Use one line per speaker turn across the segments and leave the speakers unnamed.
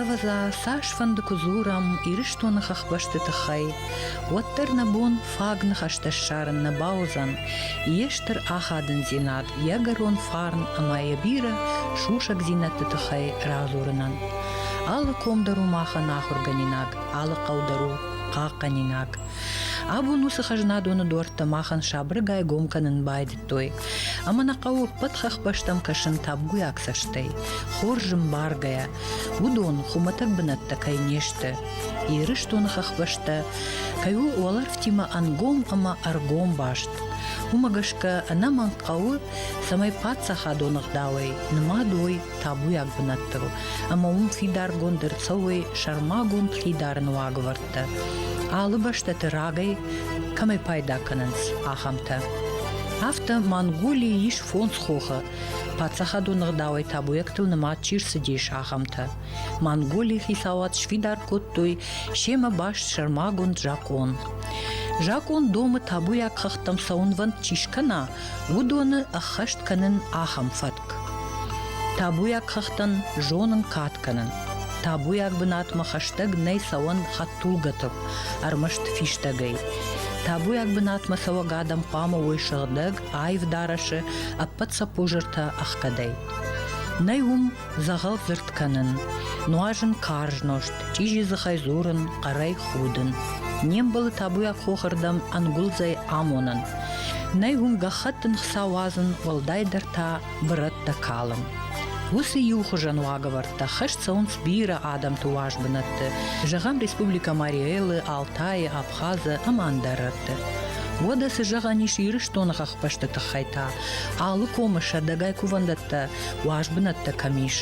Ӕвӕдза, цасфӕнды куы дзурӕм Ирыстоны хӕхбӕсты тыххӕй, уӕддӕр нӕ бон фаг ныхӕстӕ ссарын нӕ бауыдзӕн. Йе стыр ахадындзинад, ӕгӕрон фарн ӕмӕ йӕ бирӕ сусӕгдзинӕдты тыххӕй радзурынӕн. Алы ком дӕр у махӕн ахуыргӕнинаг, алы хъӕу дӕр у хъахъхъӕнинаг. Абон уыцы хӕзнадоны дуӕрттӕ махӕн сабыргай гом кӕнын байдыдтой. Ӕмӕ нӕ хъӕуы ӕппӕт хӕхбӕстӕм кӕсын табуйаг цӕстӕй. Хорз зын баргӕйӕ, уыдон хуымӕтӕг бынӕттӕ кӕй не сты. Ирыстоны хӕхбӕстӕ кӕй у уӕлӕрвтимӕ ӕнгом ӕмӕ ӕргом баст. Уымӕ гӕсгӕ ӕнӕмӕнг хъӕуы, цӕмӕй паддзахадон ӕгъдауӕй нымад уой табуйаг бынӕттыл ӕмӕ уым фидаргонд ӕрцӕуой сӕрмагонд хидары нуагвӕрд. бӕллицтӕ алы бӕстӕты рагӕй кӕмӕй пайда кӕнынц, ахӕмтӕ. Афтӕ Монголийы ис фондз хохы, паддзахадон ӕгъдауӕй табуйӕгтыл нымад чи рцыдис, ахӕмтӕ. Монголийы хицауад сфидар кодтой семӕ баст сӕрмагонд закъон. Закъон домы табуйаг хӕхтӕм сӕ уынвӕнд чи скӕна, уыдоны ӕххӕст кӕнын ахӕм фӕтк: табуйаг хӕхтӕн зонын кад кӕнын. табуйаг бынатмӕ хӕстӕг нӕй цӕуӕн хӕдтулгӕтӕ ӕрмӕст фистӕгӕй. табуйаг бынатмӕ цӕуӕг адӕм хъуамӕ уой сыгъдӕг, аив дарӕсы, ӕппӕт сӕ пужертӕ ӕхгӕдӕй. нӕй уым Дзӕгъӕлдзырд кӕнын, нуазын карз нозт, чъизи дзыхӕй дзурын, хъӕрӕй худын. Не мбӕлы табуйаг хохырдӕм ӕнгуылдзӕй амонын. Нӕй уым гӕххӕттын хца уадзын, уӕлдайдӕр та бырӕттӕ калын. Уыцы иухуызӕн уагӕвӕрдтӕ хӕст цӕуынц бирӕ адӕмты уаз бынӕтты, зӕгъӕм, Республикӕ Мариэлы, Алтайы, Абхазы ӕмӕ ӕндӕрӕдты. Уӕдӕ цы зӕгъӕн ис Ирыстоны хӕхбӕсты тыххӕй та? Алы комы сӕдӕгай кувӕндӕттӕ уаз бынӕттӕ кӕм ис.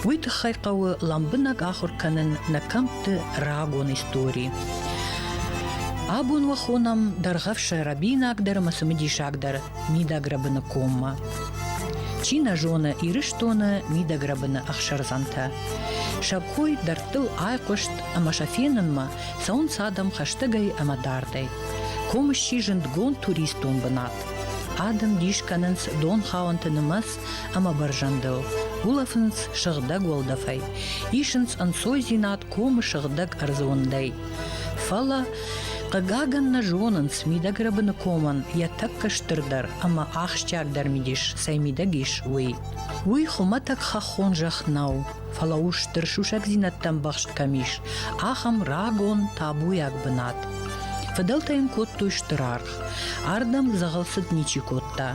Уый тыххӕй хъӕуы лӕмбынӕг ахуыр кӕнын нӕ кӕмтты рагон истори. Абон уӕ хонӕм дӕргъӕвсӕй рӕбинагдӕр ӕмӕ цымыдисагдӕр мидӕгрӕбыны коммӕ. Чи нӕ зоны Ирыстоны мидӕгрӕбыны ӕхсӕрдзӕнтӕ. Сӕ кой дӕрдтыл айхъуыст ӕмӕ сӕ фенынмӕ цӕуынц адӕм хӕстӕгӕй ӕмӕ дардӕй. Ком сси зындгонд туристон бынат. Адӕм дис кӕнынц донхауӕнты нымӕц ӕмӕ бӕрзӕндыл, улӕфынц сыгъдӕг уӕлдӕфӕй, исынц ӕнцойдзинад комы сыгъдӕг ӕрдзондӕй. Фӕлӕ, хъыгагӕн, нӕ зонынц, мидӕг рӕбыны комӕн йӕ тӕккӕ стырдӕр ӕмӕ ахсджиагдӕр мидис цӕй мидӕг ис, уый. Уый хуымӕтӕг хӕххон зӕхх нӕу, фӕлӕ у стыр сусӕгдзинӕдтӕм ӕмбӕхст кӕм ис, ахӕм рагон табуйаг бынат. Фыдӕлтӕ йын кодтой стыр аргъ. Ардӕм дзӕгъӕл цыд ничи кодта.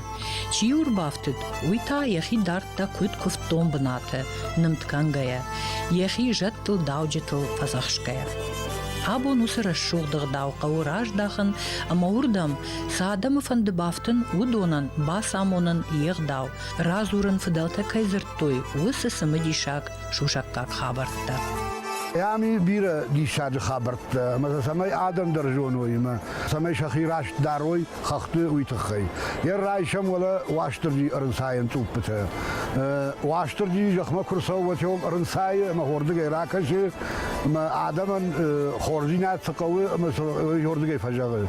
Чи йыл ӕрбафтыд, уый та йӕхи дардта куыд куывддон бынаты, нымд кӕнгӕйӕ, йӕхи зӕдтыл, дауджытыл фӕдзӕхсгӕйӕ. Абон уыцы рӕсугъд ӕгъдау хъӕуы раздахын ӕмӕ уырдӕм цы адӕмы фӕнды бафтын, уыдонӕн бацамонын йе гъдау, радзурын, фыдӕлтӕ кӕй дзырдтой, уыцы цымыдисаг сусӕггаг хабӕрттӕ. Ам и
бирӕ диссаджы хабӕрттӕ, ӕмӕ цӕмӕй адӕм дӕр зоной ӕмӕ цӕмӕй сӕхи раст дарой хӕхты, уый тыххӕй йӕ райсӕм уӕлӕ Уастырджи ӕрынцайӕн цъуппытӕ. Уастырджи зӕхмӕ куы рцӕуы, ӕрынцайы ӕмӕ хордыгӕй ракӕсы, ӕмӕ адӕмӕн хорздзинад цы хъӕуы ӕмӕ уый хордыгӕй фӕзӕгъы.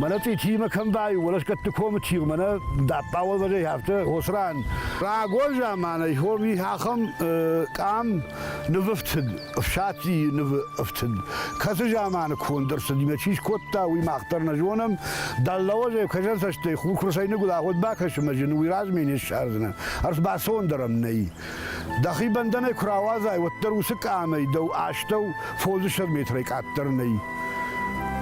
Мӕнӕ цъичимӕ кӕм бай, уӕлӕсгӕтты комы чи, мӕнӕ даппауыл вӕзӕй афтӕ осран. Рагон заманӕй хови ахӕм къам нывы фтыд, ӕфсацийы нывы ӕфтыд. Кӕцы заманы конд ӕрцыд, мӕ чи скодта, уый мах дӕр нӕ зонӕм. Дӕллауазӕй кӕзӕн цӕстӕй хур куырсӕй ныгуыд ахуыд бакӕсы мӕ зын, уый размӕ не ссардзынӕ. Ӕрбацондӕр ӕм нӕй. Дӕхи бӕндӕнӕй куы рауадзай, уӕддӕр уыцы къамӕй дӕу астӕу фондзӕстӕд метрӕй къаддӕр нӕй.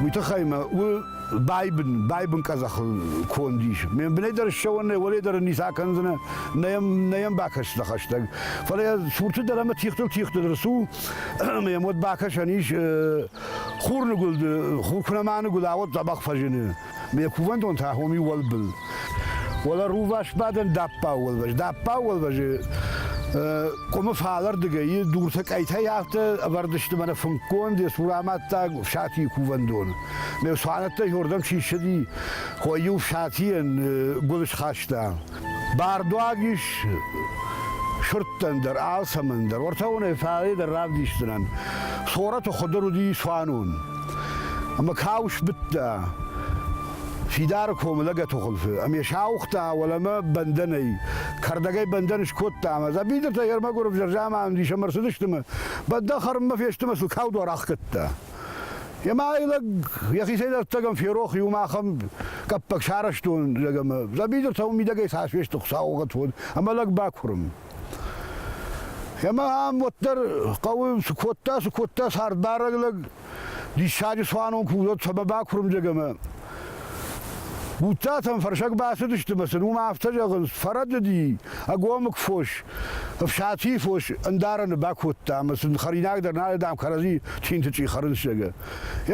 Уый тыххӕй мӕ у байбын, байбын къӕдзӕхыл конд ис. Ме бынӕй дӕр ссӕуӕн нӕй, уӕле дӕр ницы акӕндзынӕ, нӕ йӕм, нӕ йӕм бакӕс дӕ хӕстӕг. Фӕлӕ йӕ сурты дӕр ӕмӕ тигътыл тигъты дӕр цу, ӕмӕ йӕм уӕд бакӕсӕн ис хурныгуылды, хур куы нӕ мӕныгуыл, ауӕд дзӕбӕх фӕзыны. Ме кувӕндон та хоми уӕлбыл. Уӕлӕ рувасбадӕн даппау уӕлвӕз. Даппау уӕлвӕзы къуымы фалӕрдыгӕй дуртӕ къӕйтӕй афтӕ ӕвӕрдысты мӕнӕ фынггонд йӕ цурамӕттаг ӕфсатийы кувӕндон. Ме цуанӕттӕй йордӕм чи ссыди, хой-иу ӕфсатийӕн гуыл схаста. Бардуаг ис сырдтӕн дӕр, алцӕмӕн дӕр. Уортӕ уонӕй фалейдӕр равдисдзӕнӕн. Сорӕт хуӕдӕр уди цуанун. Ӕма ка усбидта, фидары комы лӕгӕты хуылфы, ӕмӕ сауыгъта уӕлӕмӕ бӕндӕнӕй. Кӕрдӕгӕй бӕндӕн скодта ӕмӕ дзӕбидыртӕ ермӕгуыр взӕрзаман ис ӕмӕ рцыдысты ӕмӕ бӕндӕн хӕрынмӕ фесты ӕмӕ сыл каудуар ахгӕдта. Ема ӕй лӕг ехицӕй дӕрдтӕгӕн ферох иум ахӕм къӕппӕг сарӕзтон лӕг ӕмӕ дзӕбидыртӕ уым мидӕгӕй цасфесты хуыцаугъӕт уыд, ӕмӕ лӕг бакурын. Ема ам уӕддӕр хъӕуы цы кодта, цы кодта цардбарӕг лӕг, диссаджы цуанон куы уыд, цӕмӕ бакурын лӕг ӕмӕ Буццатӕм фӕрсӕг бацыдысты мӕ сын уым афтӕ зӕгъынц, фӕрӕдыди, ӕгомыг фос, ӕфсатийы фос ӕндарӕны бакодта ӕмӕ сын хӕринаг дӕр нал, дам, кӕрӕдзи чинтычъи хӕрынц, зӕгъы.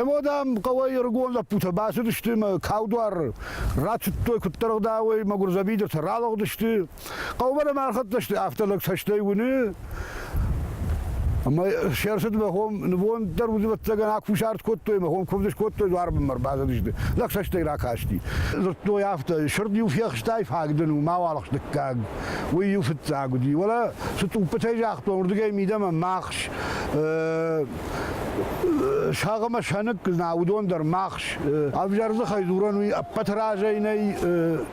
Емӕ, дам, хъӕуӕй ӕрыгон лӕппутӕ бацыдысты мӕ каудуар рацыдтой, куыддӕр ӕгъдауӕй мӕ гуырдзӕбидыртӕ ралыгъдысты, Хъӕумӕ ӕрхӕццӕ сты, афтӕ лӕг цӕстӕй уыны, ӕмӕ се рцыд мӕ хом нывонд дӕр удвӕттагӕн акусард кодтой, мӕ хом куывд скодтой, дуарбынмӕ ӕрбацыдысты. Лӕг цӕстӕй ракасти. Дзырдтой афтӕ, сырд-иу фехстай, фаг дын у, мауал ӕхс дыккаг. Уый-иу фыццаг уыди. Уӕлӕ цы тъуппытӕй загътон, уырдыгӕй мидӕмӕ махс, сӕгъ ӕмӕ сӕныкк, на уыдон дӕр махс. Ӕвзӕр дзыхӕй дзурӕн уый ӕппӕт разӕй нӕй,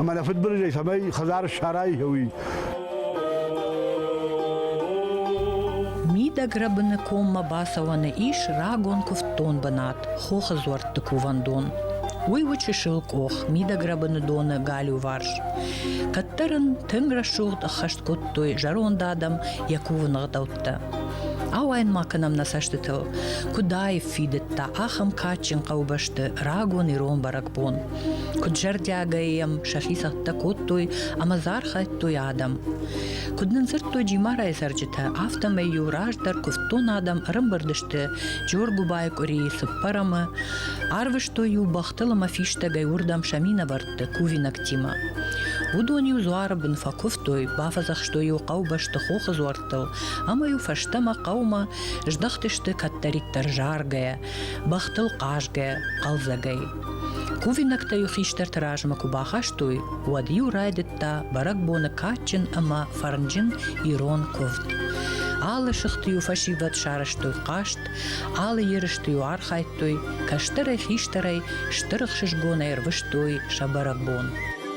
Ӕмӕ нӕ фыдбылызӕй цӕмӕй хӕдзар ссарай уый.
Мидӕг рӕбыны коммӕ бацӕуӕны ис рагон куывддон бынат Хохы дзуӕртты кувӕндон. Уый у чысыл къох, мидӕгрӕбыны доны галиуварс. Кӕддӕр ын тынг рӕсугъд ӕххӕст кодтой зӕронд адӕм йӕ кувыны гъдӕуттӕ. Ауайын ма кӕнӕм нӕ цӕстытыл, куыд аив фидыдта ахӕм кадджын хъӕубӕсты рагон ирон бӕрӕгбон. Куд зӕрдиагӕй ем сӕхи цӕттӕ кодтой ӕма зархайдтой адӕм. Куд нын дзырдтой Джимарайы цӕрджытӕ, афтӕмӕй-иу раздӕр куывддон адӕм ӕрӕмбырдысты Джоргуыбайы къуырийы цыппӕрӕмы, арвыстой-иу бӕхтыл ӕмӕ фистӕгӕй уырдӕм сӕ минӕвӕртты кувинӕгтимӕ. Уыдон-иу дзуары бын фӕкуывтой, бафӕдзӕхстой-иу хъӕубӕсты хохы дзуӕрттыл, ӕмӕ-иу фӕстӕмӕ хъӕумӕ здӕхтысты кӕддӕриддӕр заргӕйӕ, бӕхтыл хъазгӕ, хъӕлдзӕгӕй. Кувинӕгтӕ-иу хистӕрты размӕ куы бахастой, уӕд-иу райдыдта бӕрӕгбоны кадджын ӕмӕ фӕрнджын ирон куывд. Алы сыхты-иу фӕсивӕд сарӕзтой хъазт, алы ерысты-иу архайдтой, кӕстӕрӕй-хистӕрӕй стыр ӕхсызгонӕй ӕрвыстой сӕ бӕрӕгбон.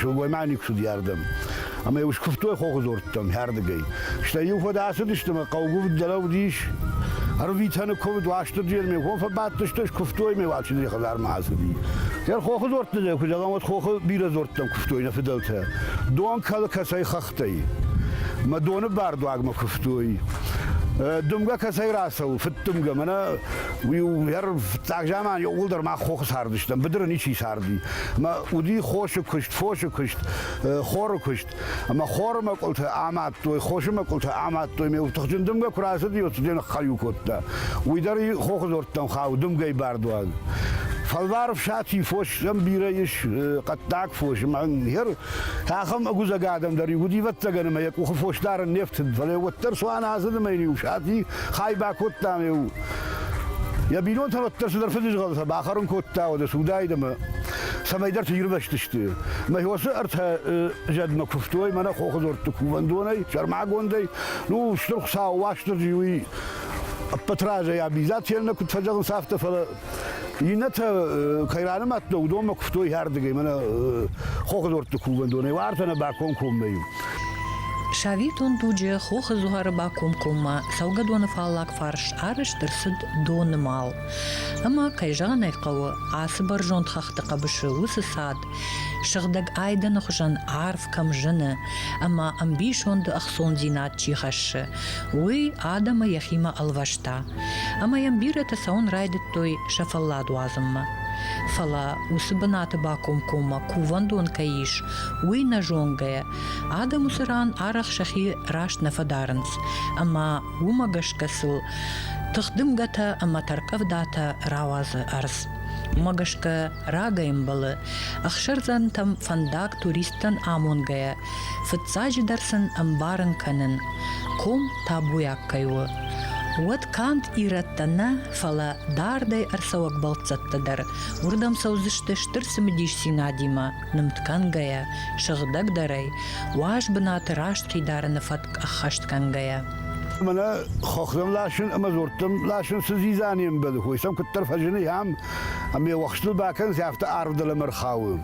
сылгоймаг уыдӕрдӕм. Ӕмӕ йыл скуывтой хохы дзорттӕм хӕрдыгӕй. Стӕй иу фӕдӕ ацыдысты ӕмӕ хъӕугуывд дӕр уыдис. Ӕрвитӕны куывд Уастырджийӕн ме хо фӕбадтысты, скуывтой ме Уачындзейы хӕдзармӕ ацыди. Дӕр хохы дзорттӕ нӕ куыд зӕгъӕм, уӕд хохы бирӕ дзорттӕм куывтой нӕ фыдӕлтӕ. Дон кӕлы кӕцӕй хӕх хъӕуттӕй. Мӕ доны бардуагмӕ куывтой. Дымгӕ кӕцӕй рацӕуы? Фыддымгӕ. Мӕнӕ уый у фыццаг заман ууылдӕр мах хохы цардыстӕм, быдыры ничи царди. Мӕ уыди хосы куыст, фосы куыст, хоры куыст. Ӕмӕ хоры мӕкъуылтӕ амадтой, хосы мӕкъуылтӕ амадтой. Ме уыптыхджын дымгӕ куы рацыди, уӕд цыдӕр ныххӕлиу кодта. Уый дӕр хохы дзордтӕм хауы, дымгӕйы бардуаг. Фӕлвар ӕфсати фос сӕм бирӕ ис, хъӕддаг фос, мӕнг, хер Ахӕм ӕгузӕг адӕм дӕр иугъуди ӕвӕццӕгӕн ӕма йӕ къухы фос дарын не фтыд, фӕлӕ уӕддӕр цуан азыдмӕ йын-иу сати хай бакодтам ӕу. Йӕ бинонтӕ уӕддӕр цыдӕр фыдызгъӕлтӕ бахӕрын кодта уӕдӕ судаид ӕмӕ цӕмӕйдӕрты ирвӕзтысты. Мӕ хосы ӕртӕ зӕдмӕ куывтой мӕнӕ хохы дзордты кувӕндонӕй, сӕрмагондӕй. Ну, стыр Хуыцау Уастырджи уый ӕппӕт разӕй абизат йӕ нӕ куыд фӕзӕгъынц, афтӕ, фӕлӕ Иннӕтӕ кӕй ранымадта, уыдонмӕ куывтой иӕрдыгӕй, мӕнӕ хохдортты кувӕндонӕй, уартӕ нӕ бакомкоммӕ-иу. Сабитон
дуджы хохы зуары бакомкоммӕ цӕугӕдоны фаллаг фарс арӕзт ӕрцыд донымӕл. Ӕмӕ, кӕй зӕгъын ӕй хъӕуы, ацы бӕрзонд хӕхты хъӕбысы уыцы цад, сыгъдӕг айдӕны хуызӕн арв кӕм зыны ӕмӕ ӕмбисонды ӕхцондзинад чи хӕссы, Уый адӕмы йӕхимӕ ӕлвӕста, ӕмӕ йӕм бирӕтӕ цӕуын райдыдтой сӕ фӕллад уадзынмӕ. Фӕлӕ уыцы бынаты бакомкоммӕ кувӕндон кӕй ис, уый нӕ зонгӕйӕ, адӕм уыцы ран арӕх сӕхи раст нӕ фӕдарынц, ӕмӕ уымӕ гӕсгӕ сыл тыхдымгӕтӕ ӕмӕ тӕрккъӕвдатӕ рауадзы ӕрдз. Уымӕ гӕсгӕ рагӕй ӕмбӕлы, ӕхсӕрдзӕнтӕм фӕндаг туристтӕн амонгӕйӕ Фыццаджыдӕр сын ӕмбарын кӕнын, ком табуйаг кӕй у. Уӕд канд ирӕттӕ нӕ, фӕлӕ дардӕй ӕрцӕуӕг бӕлццӕттӕ дӕр уырдӕм цӕудзысты стыр цымыдисдзинадимӕ нымд кӕнгӕйӕ, сыгъдӕгдӕрӕй, уаз бынаты раст хидарыны фӕтк ӕххӕст кӕнгӕйӕ. Мӕнӕ
хохтӕм ласын ӕмӕ дзорттӕм ласын цы дзидза не мбӕлы, хой сӕм куыддӕр фӕзыны, ам Ӕмӕ уӕхстыл бакӕнынц, афтӕ арв дӕлӕмӕ рхауы.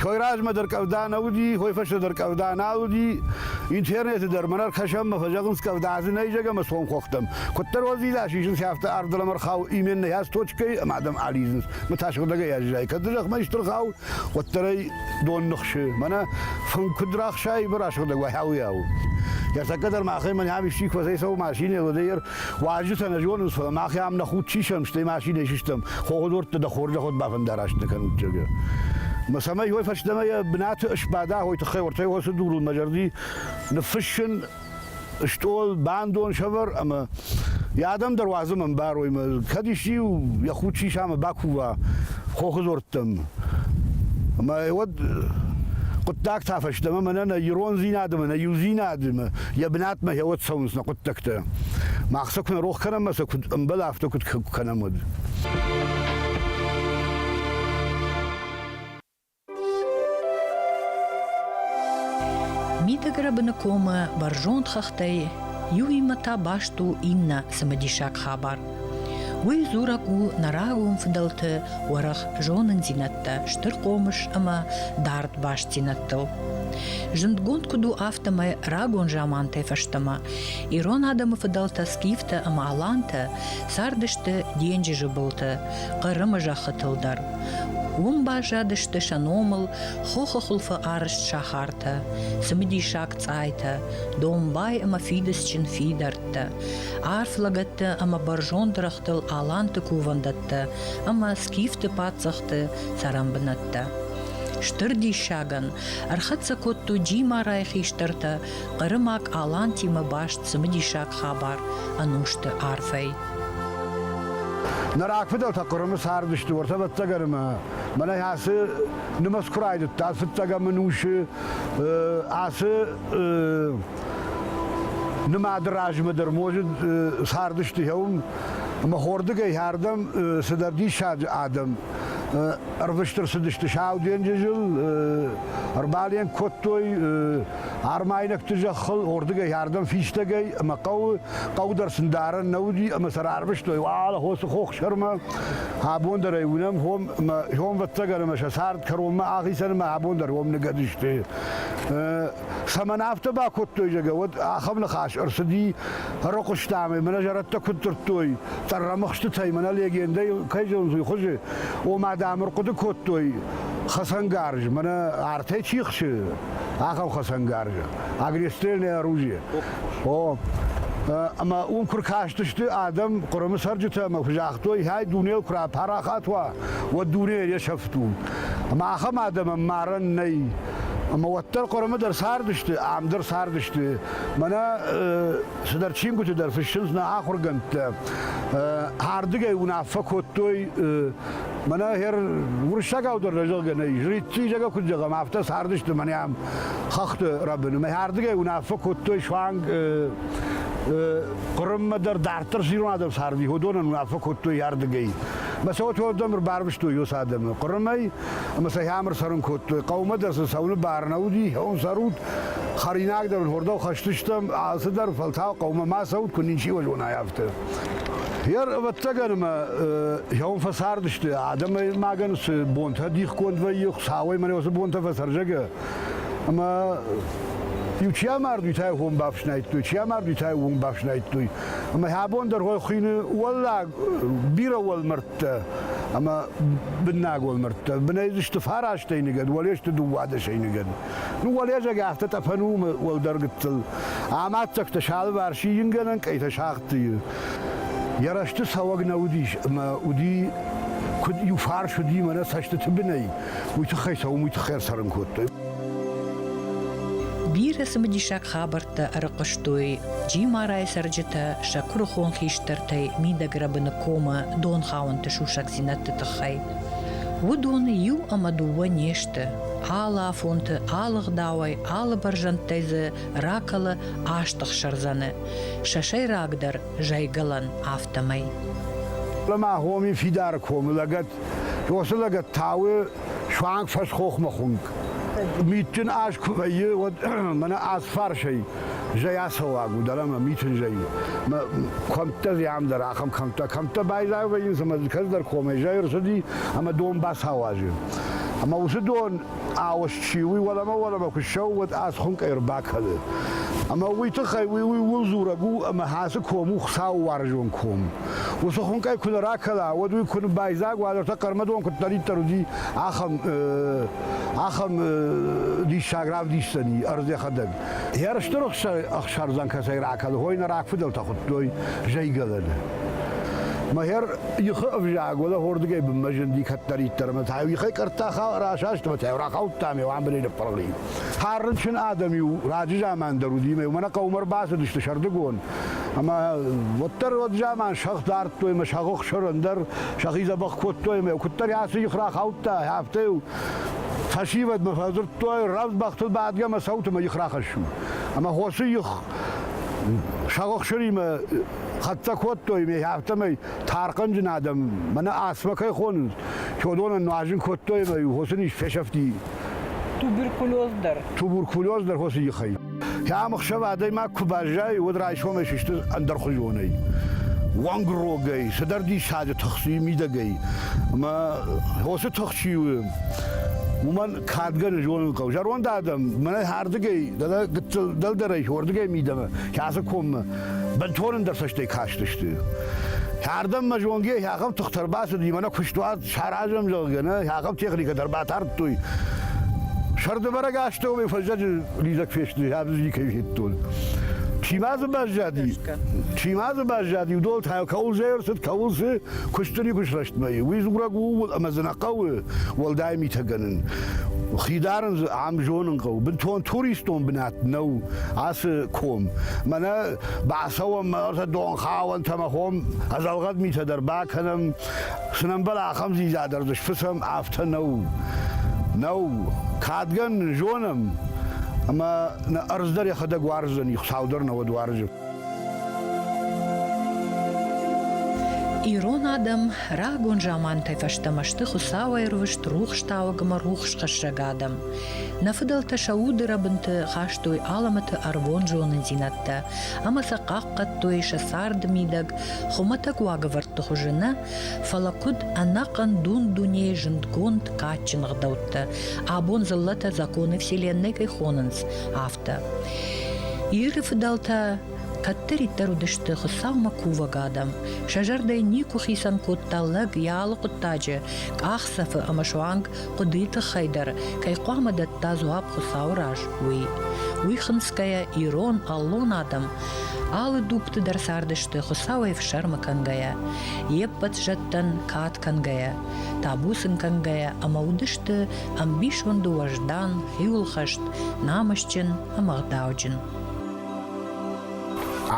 Хой размӕ дӕр къӕвда нӕ уыди, хой фӕстӕ дӕр къӕвда нал уыди. Интернеты дӕр мӕн ӕркӕсӕм мӕ фӕзӕгъынц къӕвда дзы нӕй зӕгӕ мӕ цом хохтӕм. Куыддӕр уадзидас исынц, афтӕ арв дӕлӕмӕ рхауы именно ӕз точкӕйы ӕмӕ адӕм алидзынц. Мӕ та сыгъдӕгӕй аззайы. Кӕд дзы зӕхмӕ истыр хауы, уӕддӕр ӕй дон ныхсы. Мӕнӕ фын куыд рахсайы, бӕрӕ сыгъдӕг уайауыйау. Яртаккӕ дӕр махӕй мӕн ам исчи куы фӕцӕйцӕуы машинӕ, уӕдӕй Уазджытӕ нӕ зонынц, фӕлӕ мах ам нӕ худ чи сӕм, стӕй машинӕ сыстӕм, хохыдорттӕ дӕ хорзӕхуд бафӕндараст нӕ кӕнут, зӕгъгӕ. Мӕ цӕмӕй уой фӕстӕмӕ йӕ бынаты ысбада, уой тыххӕй уӕртӕй уӕрцы дурыл мӕ зӕрди ныффыссын стъол, бандон сӕвӕр ӕмӕ йӕ адӕм дӕр уадзӕм ӕмбарой мӕ, кӕд исчи йӕ худ сисамӕ бакува хохыдорттӕм. Мӕ уӕд хъуыддаг та фӕстӕмӕ мӕнӕ нӕ ирондзинад ӕмӕ нӕ иудзинад ӕмӕ Йӕ бынатмӕ гьеуӕд цӕуынц нӕ хъуыддӕгтӕ. Мах сӕ куы нӕ рох кӕнӕм ӕмӕ сӕ куыд ӕмбӕлы, афтӕ куыд кӕнӕм уӕд.
Митыгрыбыны комы бӕрзонд хӕхтӕй иуимӕ та баст у иннӕ цымыдисаг хабар. Уый дзурӕг у нӕ рагон фыдӕлты уӕрӕх зонындзинӕдтӕ, стыр хъомыс ӕмӕ дард бастдзинӕдтыл. Зындгонд куыд у афтӕмӕй рагон замантӕй фӕстӕмӕ, ирон адӕмы фыдӕлтӕ скифтӕ ӕмӕ алантӕ цардысты денджызы былты, Хъырымы зӕххытыл дӕр. Уым баззадысты сӕ номыл хохы хуылфы арызт сахартӕ, цымыдисаг цъайтӕ, домбай ӕмӕ фидыцджын фидар лӕгӕттӕ, арф лӕгӕттӕ ӕмӕ бӕрзонд рӕгътыл аланты кувӕндӕттӕ ӕмӕ скифты паддзӕхты цӕрӕнбынӕттӕ. Стыр диссагӕн ӕрхӕццӕ кодтой Джимарайы хистӕртӕ хъырымаг Алантимӕ баст цымыдисаг хабар ӕнусты арфӕй. Нӕ
рагфыдӕлтӕ Хъырымы цардысты уӕртӕ ӕвӕццӕгӕн ӕмӕ мӕнӕй ацы нымӕц куы райдыдта, фыццӕгӕм ӕнусы ацы Нымады размӕ дӕр можы цардысты хъӕуым, ӕмӕ хордыгӕй хӕрдӕм цыдӕр диссаджы адӕм ӕрвыстыр цыдысты Сау денджызыл, ӕрбален кодтой армайнӕгты зӕххыл, ордыгӕй хӕрдӕм фистӕгӕй ӕмӕ хъӕуы, хъӕу дӕр сын дарӕн нӕ уыди, ӕмӕ сӕ рарвыстой уал хосы хохсӕрмӕ, абон дӕр ӕй уынӕм, хом ӕмӕ хомвӕццӕгӕн ӕмӕ сӕ цард кӕронмӕ ахицӕн ӕмӕ абон дӕр ом ныгӕд сты. Цӕмӕн афтӕ бакодтой, зӕгӕ, уӕд ахӕм ныхас ӕрцыди фӕрыхъуыстамӕ, мӕнӕ зӕрӕдтӕ куыд дзырдтой, тъӕррӕмыхстытӕй, мӕнӕ легендӕйыл кӕй зонынц, уый хуызы, ома, дам, ӕрхъуыды кодтой хӕцӕнгарз, мӕнӕ артӕй чи хсы, ахӕм хӕцӕнгарзы, огнестрельное оружие. О, ӕмӕ уым куы ркастысты адӕм Хъырымы цӕрджытӕ ӕмӕ куы загътой, хай дунейыл куы рапарахат уа, уӕд дуне йе сӕфт у. Ӕмӕ ахӕм адӕмӕн марӕн нӕй. Ӕмӕ уӕддӕр Хъуырымы дӕр цардысты, ам дӕр цардысты. Мӕнӕ цыдӕр чингуыты дӕр фыссынц нӕ ахуыргӕндтӕ. Ардыгӕй уынаффӕ кодтой Мӕнӕ хер уырыссагау дӕр зӕгъгӕ нӕй. Жрицы куыд зӕгъӕм, афтӕ цардысты мӕнӕ ам хӕхты рӕбын. Мӕ ардыгӕй уынаффӕ кодтой суанг Хъырыммӕ дӕр дарддӕр ирон адӕм царди, уыдонӕн уынаффӕ кодтой ардыгӕй. Мӕ цӕуӕт уӕрдӕм ӕрбарвыстой уыцы адӕмы. Хъырымӕй ӕмӕ сӕхи ӕмыр цӕрын кодтой. Хъӕумӕ дӕр сын цӕуыны бар нӕ уыди, хъӕуын цӕрут, хӕринаг дӕр уырдӕм хӕсдзыстӕм, алцыдӕр, фӕлтау хъӕумӕ ма цӕут, куы ничиуал уынай, афтӕ. Йер, ӕвӕццӕгӕн, ӕмӕ хъӕуын фӕцардысты, адӕмӕй магӕн цы бонтӕ дихгонд вӕййы, Хуыцауӕй мӕнӕ уыцы бонтӕ фӕцӕрзӕгӕ. Ӕмӕ иу чи амард, уый та йыл уым бафснайдтой, чи амард, уый та йыл уым бафснайдтой. Ӕмӕ абон дӕр хъуыйны уӕллаг бирӕ уӕлмӕрдтӕ мӕрдтӕ ӕмӕ быннагон мӕрдтӕ. Бынӕй дзы сты фарастӕй ныгӕд, уӕле сты дыууадӕсӕй ныгӕд. Ну, уӕлӕдзӕг афтӕ тъӕпӕн у уӕлдӕр гыццыл. Амаддзӕгтӕ сӕлвӕрсի ингӕнӕн къӕйтӕ сагъдтыйы. Йӕ рӕзты цӕуӕг нӕ уыдис, ӕмӕ уыди куыд иу фарс уыди мӕнӕ цӕстыты бынӕй, уый тыххӕй цӕуын, уый тыххӕй ӕрцӕрын кодтой.
Бирӕ цымыдисаг хабӕрттӕ ӕрыхъуыстой Джимарайы цӕрджытӕ сӕ куырыхон хистӕртӕй мидӕг рӕбыны комы донхауӕнты сусӕгдзинӕдты тыххӕй. Уыдоны иу ӕмӕ дыууӕ не сты. Алы афонты алыгъдауӕй, алы бӕрзӕндтӕй дзы ракӕлы аст ӕхсӕрдзӕны, сӕ сӕйрагдӕр зайгӕлӕн афтӕмӕй. Ӕмӕ
хоми фидары комы лӕгӕт, уыцы лӕгӕт Тауы суанг фӕсхохмӕ хуынкъ. Митджын аз куы вӕййы, уӕд мӕнӕ аз фарсӕй зӕй ацӕуаг у, дӕлӕ мӕ митын зӕйы. Мӕ кӕмттӕ зиан дӕр ахӕм кӕмттӕ. Кӕмттӕ байзайы вӕййынц, ӕмӕ кӕцыдӕр комӕй зӕй ӕрцыди ӕмӕ дон бацауазы. Ӕмӕ уыцы дон ауыз чи уый уӕлӕмӕ-уӕлӕмӕ куы ссӕуы, уӕд аз хуынкъ ӕрбакӕны. Ӕмӕ уый тыххӕй уый уый ууыл дзурӕг у, ӕмӕ ацы ком у Хуыцауы уарзон ком. уыцы хуынкъӕй куы нӕ ракӕла, уӕд уый куы ныббайдзаг, уӕдӕр та хъӕрмӕдон куыддӕриддӕр уыди, ахӕм ахӕм диссаг равдисдзӕни ӕрдзӕхӕдӕг. Ерысты рухсӕй ӕхсӕрдзӕн кӕцӕй ракӕлы, хойы нӕ рагфыдӕлтӕ хуыдтой зӕйгӕлӕны. Мӕхер ихы ӕвзаг уӕлӕхордыгӕй бынмӕ зынди кӕддӕриддӕр ӕмӕ та-иу ихӕй къӕртта расаст ӕмӕ та-иу рахаудтам иу ӕмбырӕй ныппырхи. Хӕрынчын адӕм-иу раджы заман дӕр уыди ӕмӕ-иу мӕнӕ хъӕумӕ ӕрбацыдысты сӕрдыгон, Ӕма уӕддӕр уӕд заман сӕгъ дардтой ӕма сӕгъохсӕрӕн дӕр сӕхи дзӕбӕх кодтой ӕма куддӕр аци их рахаудта, афтӕ еу фӕсивӕдмӕ фӕдзурдтой, равдбӕхтыл бадгӕ ӕма цӕутӕмӕ их рахӕссун. Ӕма хоси их сӕгъохсыримӕ хӕццӕ кодтой, ме афтӕмӕй тархъанджын адӕм мӕнӕ асмӕ кӕй хонынц, уыдонӕн нуазын кодтой ӕмӕ хосын ис фесӕфти. Туберкулез дӕр. Туберкулез дӕр хосы ихӕй. Кӕм ӕхсӕв адӕймаг куы баззайы, уӕд райсомӕй сысты ӕндӕрхуызонӕй уӕнгрогӕй, цыдӕр диссаджы тыхси мидӕгӕй. Ӕмӕ уыцы тыхси у уымӕн кадгӕны зонын хъӕуы. Зӕронд адӕм мӕнӕ ардыгӕй, гыццыл дӕлдӕрӕй уырдыгӕй мидӕмӕ, кӕцы коммӕ бынтон ӕндӕр цӕстӕй кастысты. Ардӕм мӕ зонгӕ ахӕм тыхтӕ ӕрбацыди, мӕнӕ куыстуат саразӕм, зӕгъгӕ, нӕ ахӕм техникӕ дӕр батардтой. Сӕрдыбӕрӕг астӕумӕ фӕззӕджы лидзӕг фесты, абз никӕй федтон. Чи ма дзы баззади? Чи ма дзы баззади? Уыдон та кӕуыл зӕрсыд, кӕуыл цы куысты никуы срӕстмӕ и. Уый дзурӕг у ӕмӕ дзы нӕ хъӕуы уӕлдай митӕ гӕнын. Хи дарын дзы ам зонын хъӕуы. Бынтон туристон бынат нӕу ацы ком. Мӕнӕ бацӕуӕм ӕртӕ донхауӕнтӕ мӕ хом ӕдзӕлгъӕд митӕ дӕр бакӕнӕм Цы нӕмбӕл ахӕм дзидза дӕр дзы сфыцӕм, афтӕ нӕу. Нӕу. Кадгӕн нын зонӕм, ӕмӕ нӕ ӕрдз дӕр йӕхӕдӕг уарздзӕни, Хуыцау дӕр науӕд уарзы.
Ирон адӕм рагон замантӕй фӕстӕмӕ сты хуыцауӕйрвыст рухстауӕг ӕмӕ рухсхӕссӕг адӕм. Нӕ фыдӕлтӕ сӕ уды рӕбынты хастой алӕмӕты ӕрвон зонындзинӕдтӕ ӕмӕ сӕ хъахъхъӕдтой сӕ царды мидӕг Хуымӕтӕг уагӕвӕрдты хуызы нӕ, фӕлӕ куыд ӕнӕхъӕн дун-дунейы зындгонд, кадджын ӕгъдӕуттӕ, абон дзыллӕтӕ законы Вселенной кӕй хонынц, афтӕ. Иры фыдӕлтӕ кӕддӕриддӕр уыдысты Хуыцаумӕ кувӕг адӕм. Сӕ зӕрдӕйы никуы хицӕн кодта лӕг йӕ алы хъуыддаджы, къахдзӕфы ӕмӕ суанг хъуыдыйы тыххӕй дӕр кӕй хъуамӕ дӕтта дзуапп Хуыцауы раз, уый. Уый хынцгӕйӕ, ирон, аллон адӕм алы дугты дӕр цардысты Хуыцауӕй фсӕрмы кӕнгӕйӕ, йе ппӕт зӕдтӕн кад кӕнгӕйӕ, табу сын кӕнгӕйӕ ӕмӕ уыдысты ӕмбисонды уӕздан, хиуылхӕст, намысджын ӕмӕ гъдауджын.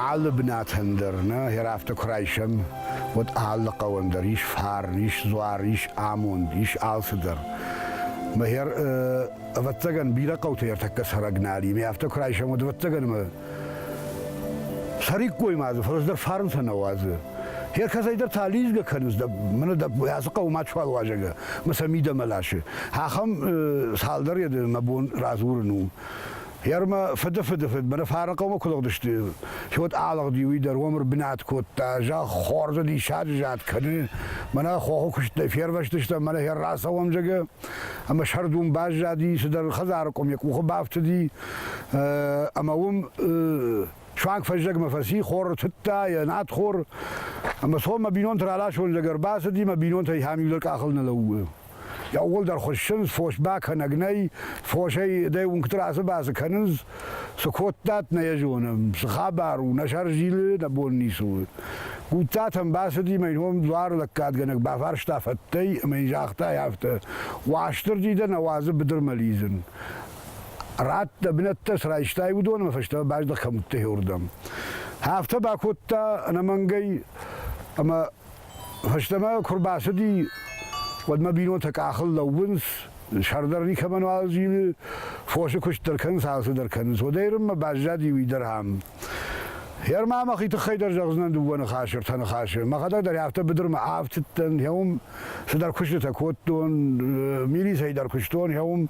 Алы бынатӕн дӕр нӕ хӕрӕфтӕ куы райсӕм, уӕд алы хъӕуӕн дӕр ис фар, ис дзуар, ис амонд, ис алцыдӕр. Мӕхер, ӕвӕццӕгӕн, бирӕ хъӕуты ӕртӕккӕ цӕрӕг нал и, мӕ афтӕ куы райсӕм, уӕд ӕвӕццӕгӕн ӕмӕ цӕриккой ма дзы, фӕлӕ дӕр фарнтӕ нӕ уадзы. Гӕр кӕцӕйдӕр та лидзгӕ кӕнынц, дӕ, мӕнӕ дӕ ацы хъӕуы ма чуал уазӕгӕ, мӕ сӕ мидӕмӕ ласы. Ахӕм цалдӕр еды мӕ бон радзурын у. Гермӕ фыдыфыды фыд Бырыфарыхъӕумӕ куы лыгъдысты, чи уӕд алыгъди, уый дӕр уӕм ӕрбынат кодта, зӕгъ, хорзӕ диссаджы зӕд кӕны, мӕнӕ хохы куыстӕй фервӕзтыстӕм, мӕнӕ хӕр рацӕуӕм, зӕгъы, ӕмӕ сӕрдун баззади, цыдӕр хӕдзары къуым йӕ къухы бафтыди, ӕмӕ уым суанг фӕззӕгмӕ фӕци, хор тыдта, йӕ надхор, ӕмӕ цом мӕ бинонты раласон, зӕгъы, ӕрбацыди, мӕ бинонтӕй иһӕм иу дӕр къахыл нӕ лӕууы. Иууылдӕр хуыссынц, фосмӕ кӕнӕг нӕй, фосӕй дӕ уынгты радзы-бадзы кӕнынц, цы кодтат, нӕ йӕ зонӕм, цы хабар у, нӕ сӕр зилы, нӕ бон ницы у. Гудтатӕм бацыди мӕ ином дуар лӕггадгӕнӕг бафарста фӕттӕй ӕмӕ йын загъта афтӕ, Уастырджи дӕ нӕ уадзы быдырмӕ лидзын. Рад дӕ бынӕттӕ цы райстай, уыдон ӕмӕ фӕстӕмӕ баздӕх кӕм уыдтӕ уырдӕм. Афтӕ бакодта ӕнӕмӕнгӕй ӕмӕ Фӕстӕмӕ куы рбацыди, уӕдмӕ бинонтӕ къахыл лӕууынц, сӕр дӕр никӕмӕн уал зилы, фосы куыст дӕр кӕнынц, алцыдӕр кӕнынц. Уӕдӕй Ӕрыммӕ баззади уый дӕр ам. Гӕр ма мӕхи тыххӕй дӕр зӕгъдзынӕн дыууӕ ныхасы, ӕртӕ ныхасы. Мӕхӕдӕг дӕр афтӕ быдырмӕ афтыдтӕн, гъӕуым цыдӕр куыстытӕ кодтон, милицӕйы дӕр куыстон, гъӕуым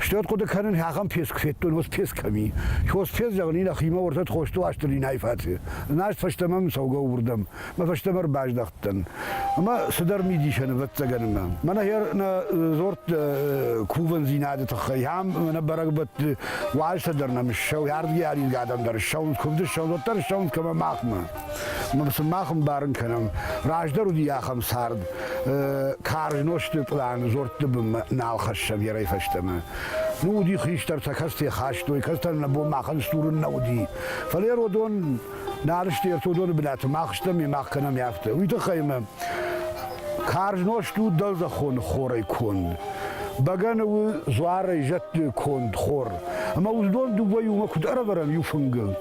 Стӕд хъуыды кӕнын, ахӕм песк федтон, уыц песк кӕми. Хос фез, зӕгъын, и нӕхимӕ ортӕт хосты уасты линӕйы фӕци. Ынаст фӕстӕмӕ мын цӕугӕ уырдӕм. Мӕ фӕстӕмӕ ӕрбаздӕхтӕн. Ӕмӕ цыдӕр мидисӕн, ӕвӕццӕгӕн, ӕмӕ. Мӕнӕ хӕр нӕ дзорд кувӕндзинады тыххӕй. Ам нӕ бӕрӕгбӕтты уазтӕ дӕр нӕм ссӕуы, ардгӕй арилгӕ адӕм дӕр ссӕуынц, куывды ссӕуынц, уӕддӕр ссӕуынц кӕмӕ махмӕ. Сымах ӕмбарын кӕнӕм, раздӕр уыди ахӕм цард, карз нозты пълан дзортты бынмӕ нал хӕсса верӕй фӕстӕмӕ. Ну уыди хистӕртӕ, кӕцытӕ хастой, кӕцытӕ нӕ бон махӕн стурын нӕ уыди. Фӕлӕ уыдон нал сты ӕртӕ уыдоны бынаты, мах стӕм, мах кӕнӕм афтӕ. Уый тыххӕй мӕ карз нозт у дӕлдзӕхоны хорӕй конд. Бӕгӕны у дзуарӕй зӕдты конд хор. Ӕмӕ уыдон дыууӕ иумӕ куыд ӕрӕвӕрӕм иу фынгыл,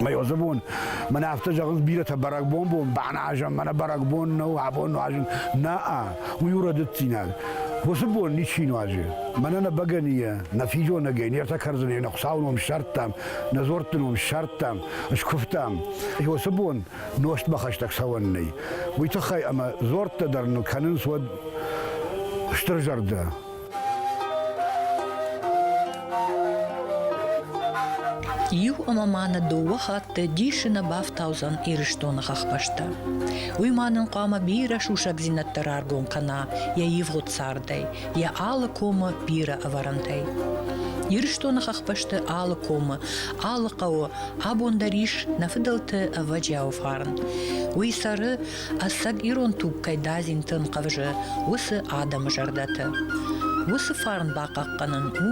Мӕ Йозефон, мӕн афтӕ зӕгъынц бирӕтӕ бӕрӕгбон-бон, бӕназӕн мӕнӕ бӕрӕгбон нӕу, абон нуазын. Нӕ-а, уый у рӕдыддзинад. Уыцы бон ничи нуазы. Мӕнӕ нӕ бӕгӕныйӕ, нӕ физонӕгӕй не ртӕкӕрдзынӕй нӕ Хуыцауы ном ссардтам, нӕ дзуӕртты ном ссардтам, скуывтам. Уыцы бон нозтмӕ хӕстӕг цӕуӕн нӕй. Уый тыххӕй ӕмӕ дзуӕрттӕ дӕр ныл кӕнынц уӕд стыр зӕрдӕ.
Иу ӕмӕ ма нӕ дыууӕ хатты дисы нӕ бафтаудзӕн Ирыстоны хӕхбӕстӕ. Уый ма нын хъуамӕ бирӕ сусӕгдзинӕдтӕ раргом кӕна йӕ ивгъуыд цардӕй, йӕ алы комы бирӕ ӕвӕрӕнтӕй. Ирыстоны хӕхбӕсты алы комы, алы хъӕуы абон дӕр ис нӕ фыдӕлты ӕвӕджиауы фарн. Уый цӕры Ӕцӕг ирон туг кӕй дадзинты ӕнхъӕвзы, уыцы адӕмы зӕрдӕты. Уыцы фарн бахъахъхъӕнын у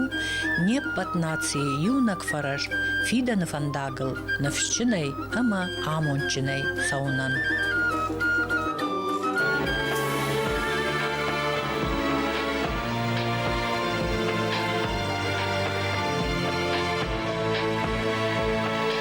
не ппӕт нацийы иунӕг фӕрӕз фидӕны фӕндагыл ныфсджынӕй ӕмӕ амондджынӕй цӕуынӕн.